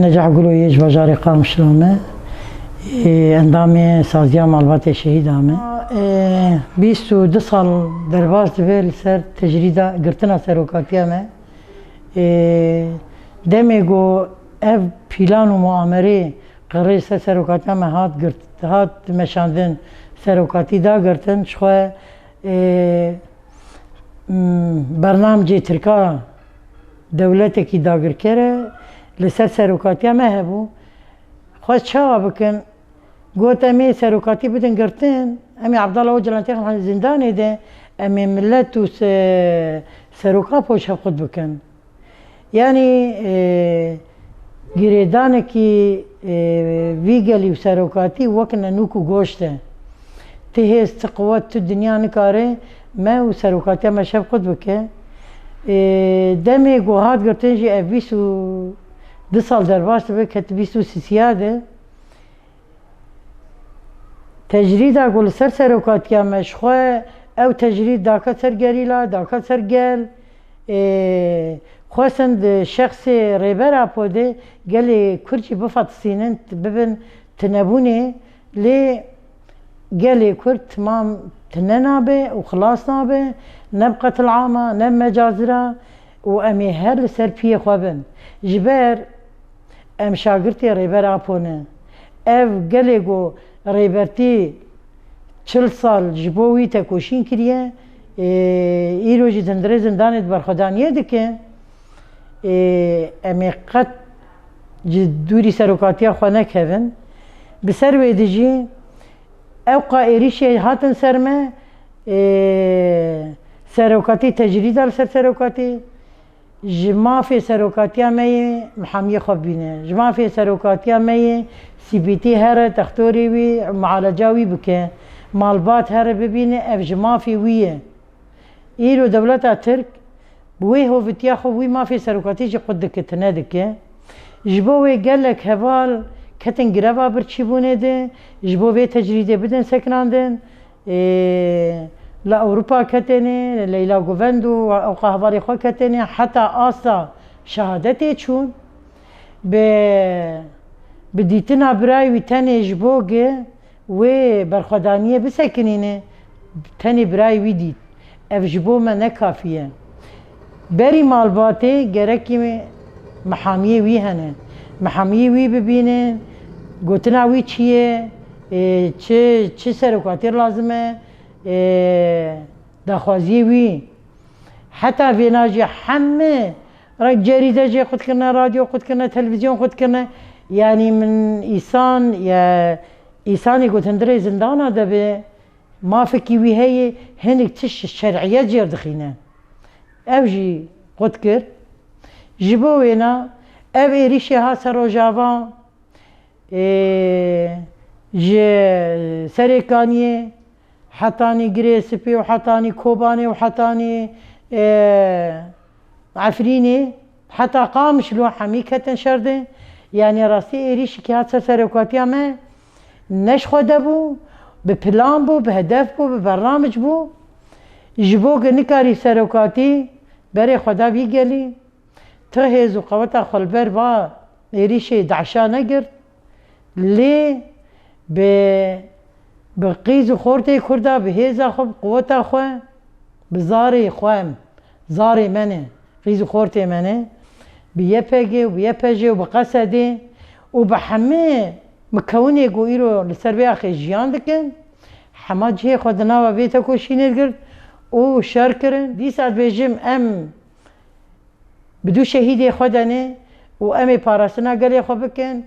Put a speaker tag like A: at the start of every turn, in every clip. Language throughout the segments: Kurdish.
A: Necah Gulo yê ji bajarê Qamişlo me yê endamê saziya malbatê şehîda me. Bîst û du sal derbas dibe li ser tecrîda girtina serokatiya me yê demê ku ev pîlan û muamerê qirê li ser serokatiya me hat girt hat meşandin serokatî da girtin ji xwe bernamcê tirka Dewletekî dagirker e, li ser serokatiya me hebû. Xwest çawa bikin? Got em ê serokatî bidin girtin, em ê Abdallah Ocalan têxin zîndanê de, em ê milet û seroka poşevqut bikin. Yanî Girêdanekî vî gelî û serokatî wek nenûk û goşt e. Ti hêz, ti quwet, tu dinya nikare me û serokatiya me şevqut bike. Demê ku hat gotin jî ev bîst û du sal derbas dibe, ketibîst û sîsîya de. Tecrîda ku li ser serokatiya me ji xwe ew tecrîd dake ser gerîla, dake ser gel ê xwestin di şexsê Rêber Apodê gelê Kurd jî bifatisînin, bibin tunebûnê lê gelê Kurd timam tune nabe û xilas nabe ne bi qetilama ne bi mecazira û em ê her li ser piyê xwe bin. Ji ber. Em şagirtê Rêber Apo ne. Ev gelê ku Rêber tê çil sal ji bo wî tekoşîn kiriye, îro jî dindirê zindanê di berxwedaniyê dike. Em ê qet ji dûrî serokatiya xwe nekevin. Bi ser wê de jî ewqa êrîşê hatin ser me, serokatî tecrîda li ser serokatî, Ji mafê serokatiya me yê mihamiyê xwe bîne. Ji mafê serokatiya me yê CBT here textorê wî û mialeca wî bike. Malbat here bibîne ev ji mafê wî ye. Îro dewleta Tirk bi wê hovitiya xwe wî mafê serokatî jî qut dikitine dike. Ji bo wê gelek heval ketin greva birçîbûnê di, ji bo vê tecrîdê bidin sekinandin. Ê li Ewropa ketêne, Leyla Guvend û ew qehbarê xwe ketêne heta asta şehadetê çûn. Bi bi dîtina birayê wî tenê ji bo gi wê berxwedaniyê bisekinîne, tenê birayê wî dît. Ev ji bo me ne kafî ye. Berî malbatê gerekî mihamiyê wî hene. Mihamiyê wî bibînin, gotina wî çi ye, çi çi serokatî lazim e, daxwaziyê wî. Heta vêna jî heme ra cerîde jê xwe dikirine, radyo xwe dikirine, televîzyon xwe dikirine. Yanî min îsan ya îsanê gotindirê zindana de be. Mafekî wî heye hinek tişt ji şerîyet cêr dixîne. Ew jî qut kir, Ji bo wêna ev êrîşê hat ser Rojava, ji Serêkaniyê hetanî Girê Sipê û hetanî Kobanê û hetanî Efrînê Heta Qamişlo û Hemî ketin şer de. Yanî rastî êrîşî ke hat ser serokwatîya me ne ji xwe de bû, bi plan bû, bi hedef bû, bi bernamic bû. Ji bo ke nikarî serokwatî berê xwe da vî gelî, tu hêz û qeweta xwe li ber va êrîşê DAIŞ'a negirt. Lê bi bi qîz û xortê Kurda, bi hêza xwe, bi quweta xwe, bi zarê xwe em. Zarê me ne, rîz û xortê me ne, bi YPG û bi YPJ û bi QSD û bi hemê mikewinê ku îro li ser vê axê jiyan dikin, hema cihê xwe di nava vê tekoşînê de girt û şer kirin. Dîsa dibêjim em bi du şehîdê xwe de ne û em ê parastina gelê xwe bikin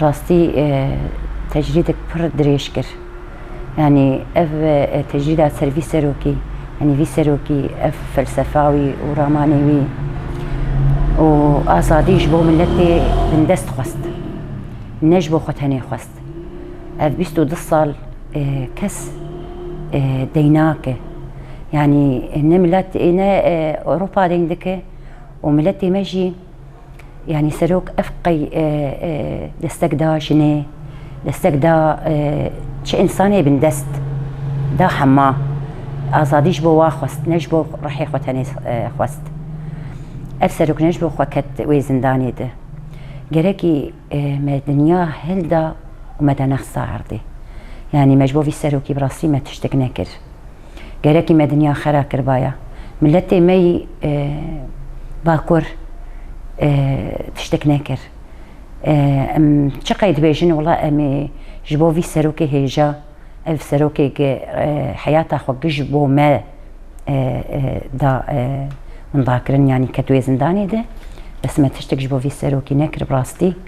A: rastî tecrîdek pir dirêj kir. Yanî ev tecrîda ser vî serokî, yanî vî serokî, ev felsefa wî û ramanê wî û azadî ji bo miletê bindest xwest. Ne ji bo xwe tenê xwest. Ev bîst û du sal kes deyn nake. Yanî ne milet ne Ewropa deyn dike û miletê me jî Yanî serok ev qey destek da jinê, destek da çi însanê bin dest da hema. Azadî ji bo wa xwest ne ji bo ruhê xwe tenê xwest. Ev serok ne ji bo xwe ket wê zindanê de. Gerekî me dinya hilda û me da nexsa erdê. Yanî me ji bo vî serokî bi rastî me tiştek nekir. Gerekî me dinya xwe re kiribaya. Miletê me yî Bakur tiştek nekir. Em çiqey dibêjin wila em ê ji bo vî serokê hêja, ev serokeke heyata xwe giş bo me da mindakirin yanî ketiye zindanê de. Bes me tiştek ji bo vî serokî nekir bi rastî.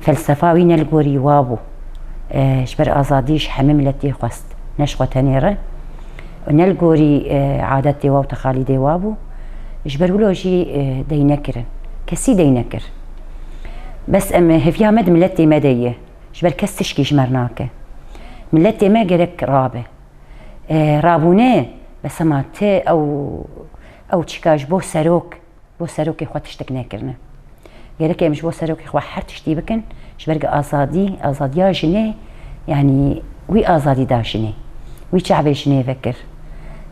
A: Felsefa wî ne li gorî wa bû, ji ber azadî ji hemî miletî xwest, ne ji xwe tenê re û ne li gorî adetê wa û texalîdê wa bû, ji ber wilo jî dey nekirin, kesî dey nekir. Bes em hêviya me di miletê me de ye, ji ber kes tişkî ji mer nake. Miletê me gerek rabe. Rabûne, bes hema ti ew ew çîka ji bo serok. bo serokê xwe tiştek nekirine. Gerek e em ji bo serokê xwe her tiştî bikin, ji ber ku azadî, azadiya jinê yanî wî azadî da jinê. Wî çavê jinê vekir.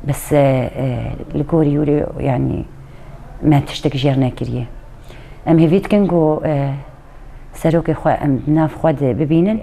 A: Bes li gorî wî re yanî me tiştek jêr nekiriye. Em hêvî dikin ku serokê xwe em di nav xwe de bibînin.